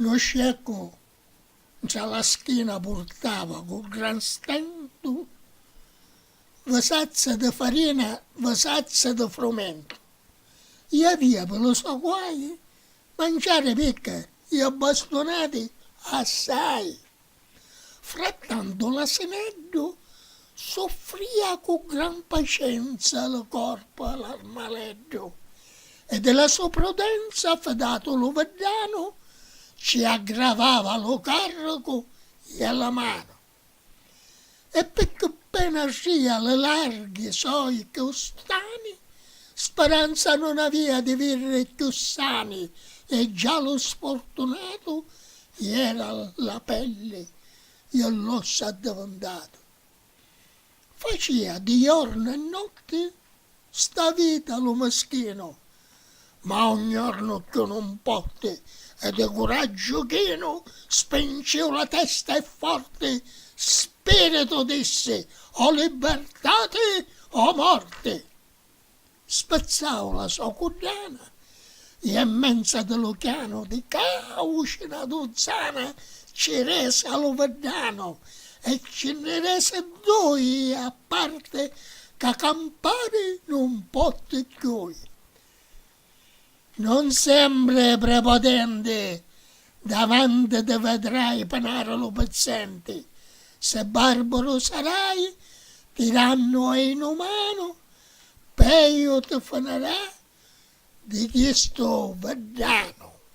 Lu sceccu ntra la schina purtava cu gran stentu vasazze di farina, vasazze di frumentu. Iavia pi lu so guai manciari picca i abbastunati assai. Frattantu l'asineddu suffria cu gran pacenza lu corpu a l'armaleddu, e di la so prudenza fidatu lu viddanu ci aggravava lu carricu i a la manu. E picchì pena sia li larghi soi custani, speranza non avia di virri cchiù sani e già lu sfortunatu iera la pelli e l'ossa addivintatu. Facia di jornu e notti sta vita lu mischinu Ma un jornu cchiù nun potti E di curaggiu chinu Spinciu la testa e forti Spiritu dissi O libbertati o morti Spizzau la so cuddana I e menza di lu chianu Di cauci na duzzana Ci resi a lu viddanu E ci nni resi dui a parte ca campari nun potti ddui. Non sembri prepotenti davanti ti vedrai penari lu pizzenti si barburu sarai tirannu ei nu manu peiu ti finirà di chistu viddanu.